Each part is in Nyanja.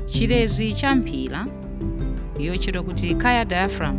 chilezi cha mphira yotchedwa kuti Caya diaphragm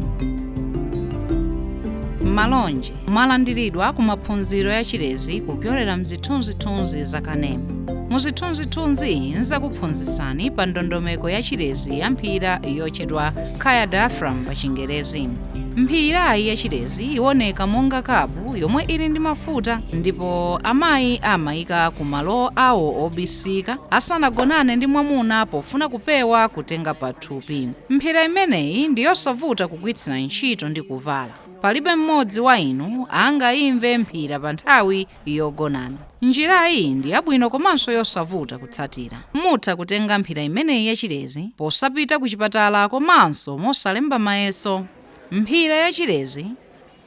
malonje mwalandiridwa ku maphunziro ya chilezi kupyolera mzithunzithunzi za kanema muzithunzithunzizi nzakuphunzitsani pa ndondomeko ya chilezi ya mphira yotchedwa Caya diaphragm pa chingerezi mphirayi ya chilezi iwoneka monga kapu yomwe ili ndi mafuta ndipo amayi amayika ku malo awo obisika asanagonane ndi mwamuna pofuna kupewa kutenga pathupi. Mphira imeneyi ndi yosavuta kugwiritsira ntchito ndi kuvala. Palibe mmodzi wa inu angayimve mphira pa nthawi yogonana. Njirayi ndi yabwino komanso yosavuta kutsatira. Mutha kutenga mphira imeneyi yachilezi posapita kuchipatala komanso mosalemba mayeso. Mphira yachilezi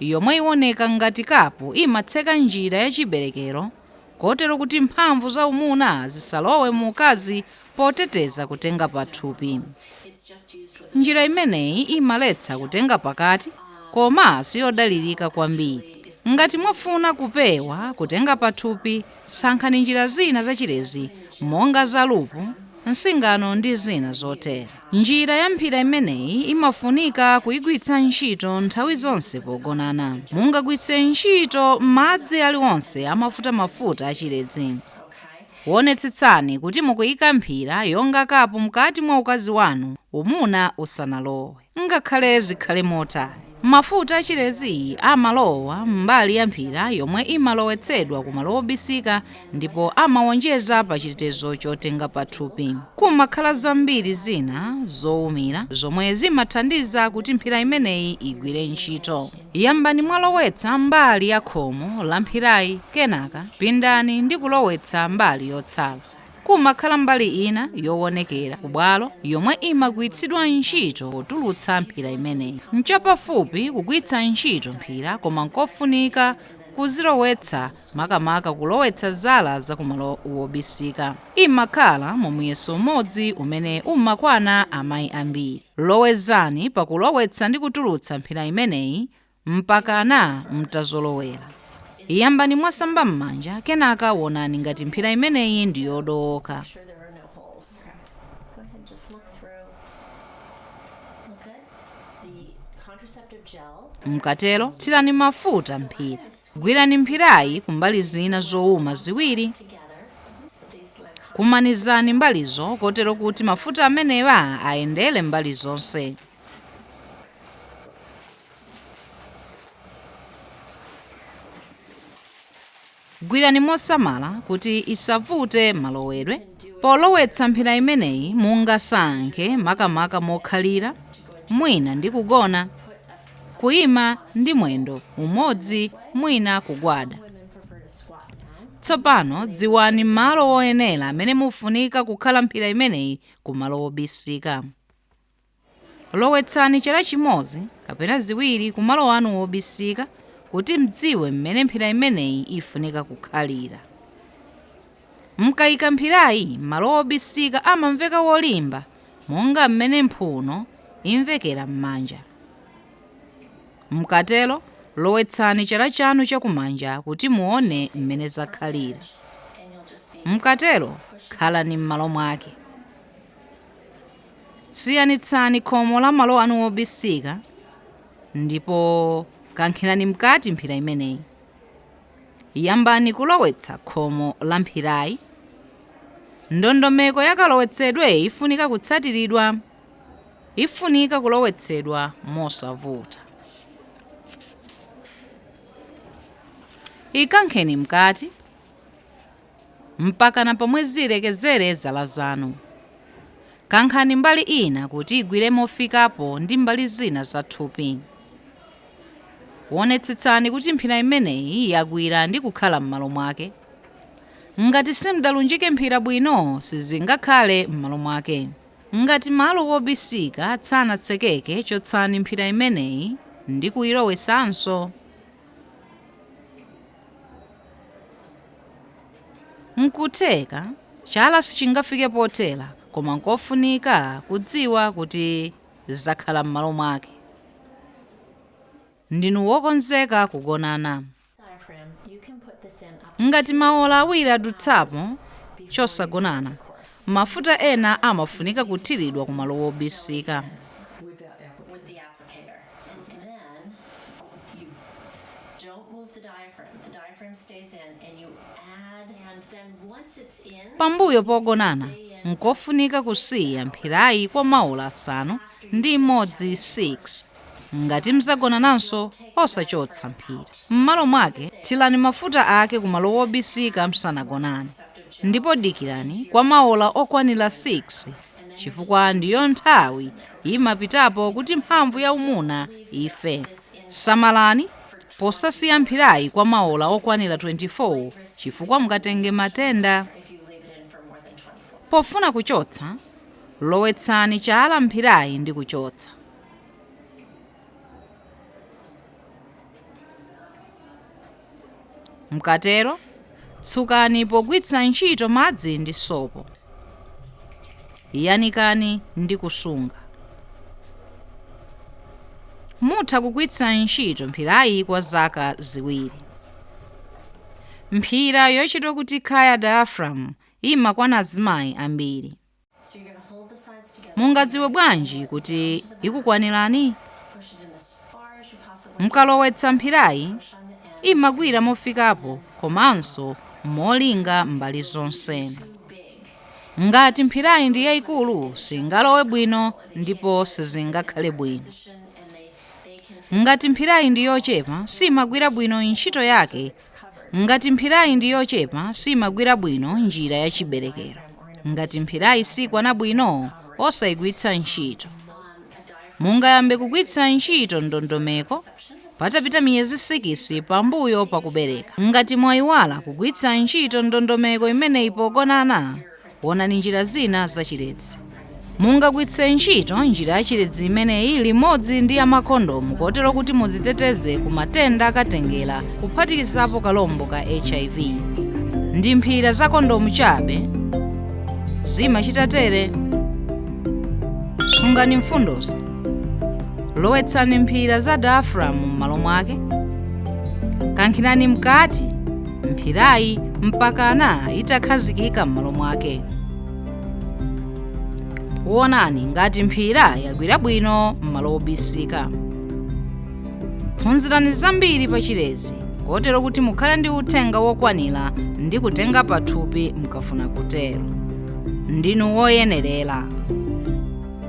yomwe iwoneka ngati kapu imatseka njira ya chiberekero kotero kuti mphamvu za umuna zisalowe mu ukazi poteteza kutenga pathupi. Njira imeneyi imaletsa kutenga pakati koma siyodalirika kwambiri. Ngati mwafuna kupewa kutenga pathupi sankhani njira zina za chilezi monga za lupu, nsingano ndi zina zotere. Njira ya mphira imeneyi imafunika kuigwiritsa ntchito nthawi zonse pogonana. Mungagwiritse ntchito madzi aliwonse a mafutamafuta a chilezi. Wonetsetsani kuti mukuika mphira yonga kapu mkati mwa ukazi wanu umuna usanalowe, ngakhale zikhale motani. Mafuta a chilezi amalowa m'mbali ya mphira yomwe imalowetsedwa ku malo obisika ndipo amawonjeza pa chitetezo chotenga pathupi. Kumakhala zambiri zina zowumira zomwe zimathandiza kuti mphira imeneyi igwire ntchito. Yambani mwalowetsa mbali ya khomo la mphirayi kenaka pindani ndi kulowetsa mbali yotsala. Kumakhala mbali ina yowonekera kubwalo yomwe imagwiritsidwa ntchito potulutsa mphira imeneyi. Nchapafupi kugwiritsa ntchito mphira koma nkofunika kuzilowetsa makamaka kulowetsa zala za kumalo wobisika. Imakhala mu muyeso umodzi umene umakwana amayi ambiri. Lowezani pa kulowetsa ndi kutulutsa mphira imeneyi Mpakana mutazolowera. Yambani mwasamba m'manja kenaka wonani ngati mphira imeneyi ndi yodowoka. Mukatero tsirani mafuta mphira. Gwirani mphirayi kumbali zina zowuma ziwiri. Kumanizani mbalizo kotero kuti mafuta amenewa ayendere mbali zonse. Gwirani mosamala kuti isavute malowedwe. Polowetsa mphira imeneyi mungasankhe makamaka mokhalira, mwina ndi kugona, kuima ndi mwendo umodzi mwina kugwada. Tsopano dziwani malo oyenera amene mufunika kukhala mphira imeneyi kumalo obisika. Lowetsani cala cimodzi kapena ziwiri ku malo anu obisika kuti m'dziwe m'mene mphira imeneyi ifunika kukhalira. M'kaika mphirayi malo obisika amamveka wolimba monga m'mene mphuno imvekera m'manja. M'katero lowetsani cala canu ca kumanja kuti muone m'mene zakhalira. M'katero khalani m'malo mwake. Siyanitsani khomo la malo anu obisika ndipo kankhirani mkati mphira imeneyi. Yambani kulowetsa khomo la mphirayi. Ndondomeko ya kalowetsedwe ifunika kutsatiridwa. Ifunika kulowetsedwa mosavuta. Ikankheni mkati. mpakana pomwe zilekezere zala zanu. Kankhani mbali ina kuti igwire mofikapo ndi mbali zina za thupi. Wonetsetsani kuti mphira imeneyi yagwira ndi kukhala m'malo mwake. Ngati simdalunjike mphira bwino, sizingakhale m'malo mwake. Ngati malo wobisika sanatsekeke, chotsani mphira imeneyi ndi kuyilowetsanso. N'kutheka chala sichingafike pothera, koma n'kofunika kudziwa kuti zakhala m'malo mwake. Ndinu wokonzeka kugonana? Ngati maola awiri adutsapo chosagonana, mafuta ena amafunika kuthiridwa kumalo obisika. And then you don't move the diaphragm. The diaphragm stays in and you add and then once it's in pambuyo pogonana nkofunika kusiya mphirayi kwa maola asanu ndi imodzi 6 ngati mdzagonananso osachotsa mphira m'malo mwake thirani mafuta ake kumalo wobisika msanagonane ndipo dikirani kwa maola okwanira 6 chifukwa ndiyo nthawi imapitapo kuti mphamvu ya umuna ife. Samalani posasiya mphirayi kwa maola okwanira 24 chifukwa mungatenge matenda. Pofuna kuchotsa, lowetsani chala m'mphirayi ndi kuchotsa. Mukatero, tsukani pogwiritsa ntchito madzi ndi sopo. Yanikani ndi kusunga. Mutha kugwiritsa ntchito mphirayi kwa zaka ziwiri. Mphira yotchedwa kuti Caya diaphragm imakwana azimayi ambiri. Mungadziwe bwanji kuti ikukwanirani? Mukalowetsa mphirayi, imagwira mofikapo komanso molinga mbali zonse. Ngati mphirayi ndi yaikulu, singalowe bwino ndipo sizingakhale bwino. Ngati mphirayi ndi yochepa, siimagwira bwino njira ya chiberekero. Ngati mphirayi sikwana bwino, osaigwitsa ntchito. Mungayambe kugwitsa ntchito ndondomeko patapita miyezi sikisi pambuyo pakubereka. Ngati mwaiwala kugwitsa ntchito ndondomeko imeneyi pogonana, Wonani njira zina za chilezi. Mungagwitse ntchito njira ya chilezi imeneyi limodzi ndi ya makondomu kotero kuti muziteteze ku matenda akatengera kuphatikizapo kachilombo ka HIV. Ndi mphira za kondomu chabe zimachita tere. Sungani mfundozi. Lowetsani mphira za diaphragm m'malo mwake. Kankhirani mkati. mphirayi mpakana itakhazikika m'malo mwake wonani ngati mphira yagwira bwino m'malo obisika phunzirani zambiri pa chilezi kotero kuti mukhale ndi uthenga wokwanira ndi kutenga pathupi mukafuna kutero ndinu woyenerera